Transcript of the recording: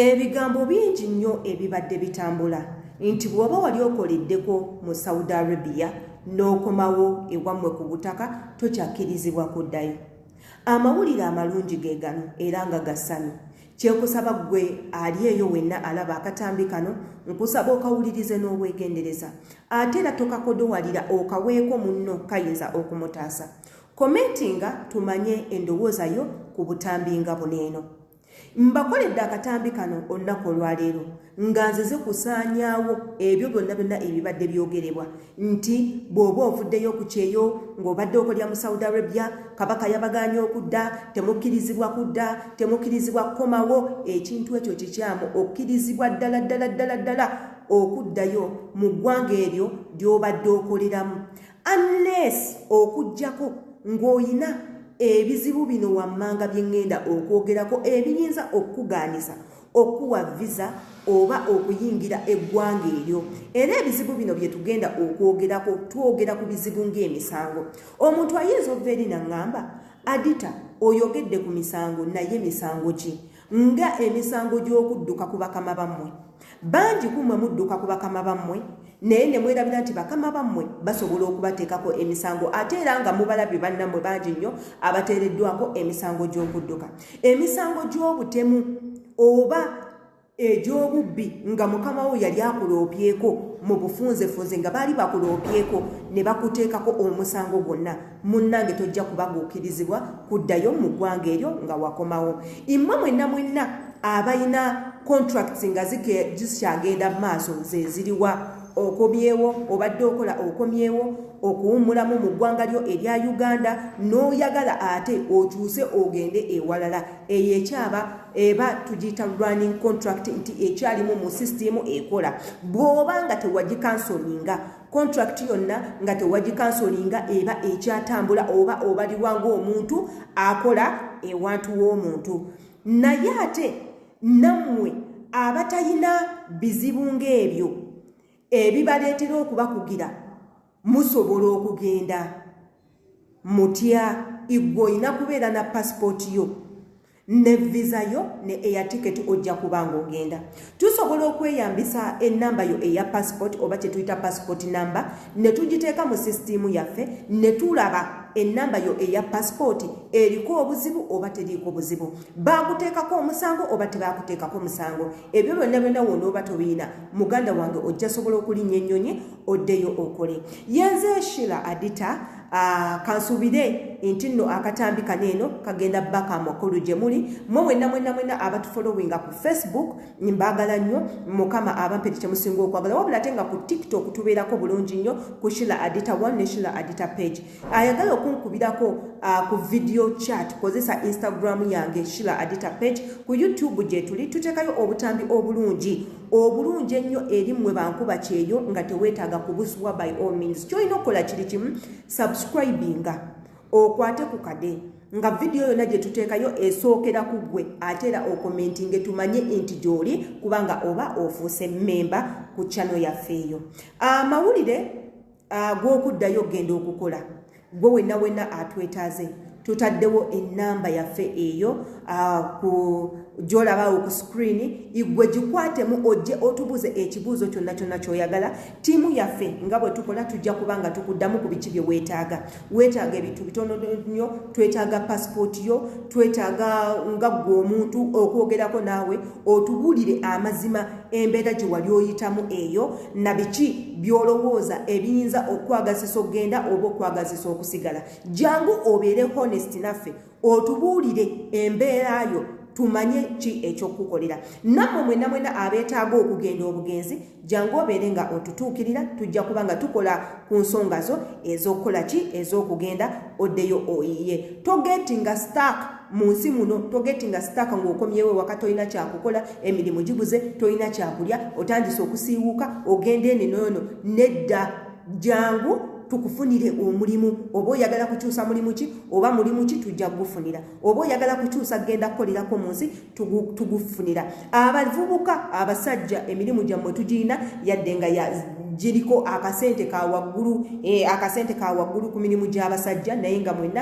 Ebigambo bingi nnyo ebibadde bitambula nti bw'oba wali okoleddeko mu Saudi Arabia n'okomawo ewammwe ku butaka tokyakkirizibwa kuddayo. Amawulire amalungi ge gano era nga ga ssanyu. Kyekusaba ggwe ali eyo wenna alaba akatambi kano nkusaba okawulirize n'obwegendereza ate era tokakodowalira okaweeko munno kayinza okumutaasa. Komentinga tumanye endowooza yo ku butambi nga buno eno. mbakoledde akatambi kano olunaku olwaleero nga nzize kusaanyaawo ebyo byonna byonna ebibadde byogerebwa nti bw'oba ovuddeyo ku kyeyo ng'obadde okolya mu saudi arabia kabaka yabagaanya okudda temukkirizibwa kudda temukkirizibwa kukomawo ekintu ekyo kikyamu okkirizibwa ddala ddala ddala ddala okuddayo mu ggwanga eryo ly'obadde okoleramu unless okujjako ng'oyina ebizibu bino wammanga bye ŋŋenda okwogerako ebiyinza okukugaanisa okuwa visa oba okuyingira eggwanga eryo era ebizibu bino bye tugenda okwogerako twogera ku bizibu ng'emisango omuntu ayinza okuva eri naŋŋamba adita oyogedde ku misango naye misango ki nga emisango gy'okudduka ku bakama bammwe bangi ku mmwe mudduka ku bakama bammwe naye ne mwerabira nti bakama bammwe basobola okubateekako emisango ate era nga mubalabye bannammwe bangi nnyo abateereddwako emisango gy'okudduka emisango gy'obutemu oba egy'obubbi nga mukama wo yali akuloobyeko mu bufunzefunze nga baali bakuloobyeko ne bakuteekako omusango gwonna munnange tojja kubaguukirizibwa kuddayo mu ggwanga eryo nga wakomawo immwe mwenna mwenna abalina contracts nga zikyagenda mu maaso zeziriwa okomyewo obadde okola okomyewo okuwummulamu mu ggwanga lyo erya uganda n'oyagala ate okyuse ogende ewalala eyo ekyaba eba tugiyita running contract nti ekyalimu mu sisitimu ekola bw'oba nga tewagikansoninga contract yonna nga tewagikansolinga eba ekyatambula oba obalirwa ng'omuntu akola ewantu w'omuntu naye ate nammwe abatalina bizibu ng'ebyo ebibaleetera okubakugira musobola okugenda mutya igwe olina kubeera na pasipooti yo ne visa yo ne air ticket ojja kuba ng'ogenda tusobola okweyambisa enamba yo eya passport oba kyetuyita passport number ne tugiteeka mu sisitiimu yaffe ne tulaba enamba yo eya passport eriko obuzibu oba teriiko buzibu baakuteekako omusango oba tebaakuteekako omusango ebyo byonna byonna wona oba tobiina muganda wange ojja sobola okulinnya ennyonyi oddeyo okole yenze shila adita Ah, kansubire nti nno akatambi kano eno kagenda baka amakulu gye muli mwe mwenna mwenna mwenna abatufolowinga ku facebook mbaagala nnyo mukama abamperi kye musinga okwagala wabula ate nga ku tiktok tubeerako bulungi nnyo ku shila adita one ne shila adita page ayagala okunkubirako ah, ku video chat kozesa instagram yange shila adita page ku youtube gye tuli tuteekayo obutambi obulungi obulungi ennyo eri mmwe bankuba kyeyo nga teweetaaga kubusubwa by all means kyolina okukola kiri kimu subscribinga okwate ku kade nga vidiyo yonna gye tuteekayo esookera ku ggwe ate era okomentinge tumanye nti gy'oli kubanga oba ofuuse mmemba ku chano yaffe eyo amawulire ah, agw'okuddayo okugenda okukola gwe wenna wenna atwetaaze tutaddewo enamba yaffe eyo ku gyolabaawo ku sikrini igwe gikwatemu ojje otubuuze ekibuuzo kyonna kyonna kyoyagala tiimu yaffe nga bwe tukola tujja kuba nga tukuddamu ku biki bye weetaaga weetaaga ebintu bitono nnyo twetaaga pasipooti yo twetaaga nga ggwe omuntu okwogerako naawe otubuulire amazima embeera gye wali oyitamu eyo na biki by'olowooza ebiyinza okukwagazisa okugenda oba okukwagazisa okusigala jangu obeere honest naffe otubuulire embeera yo tumanye ki ekyokukukolera nammwe mwena mwena abeetaaga okugenda obugenzi jangu obeere nga otutuukirira tujja kuba nga tukola ku nsonga zo ez'okukola ki ez'okugenda oddeyo oyiye togeeti nga stark mu nsi muno togeti nga sitaaka ng'okomyewo ewaka tolina kyakukola emirimu giguze tolina kyakulya otandise okusiiwuuka ogenda eno noono nedda jangu tukufunire omulimu oba oyagala kukyusa mulimu ki oba mulimu ki tujja kugufunira oba oyagala kukyusa genda kukolerako mu nsi tugufunira abavubuka abasajja emirimu gyammwe tugirina yadde nga giriko akasente ka waggulu eh, akasente ka waggulu ku mirimu gy'abasajja naye nga mwenna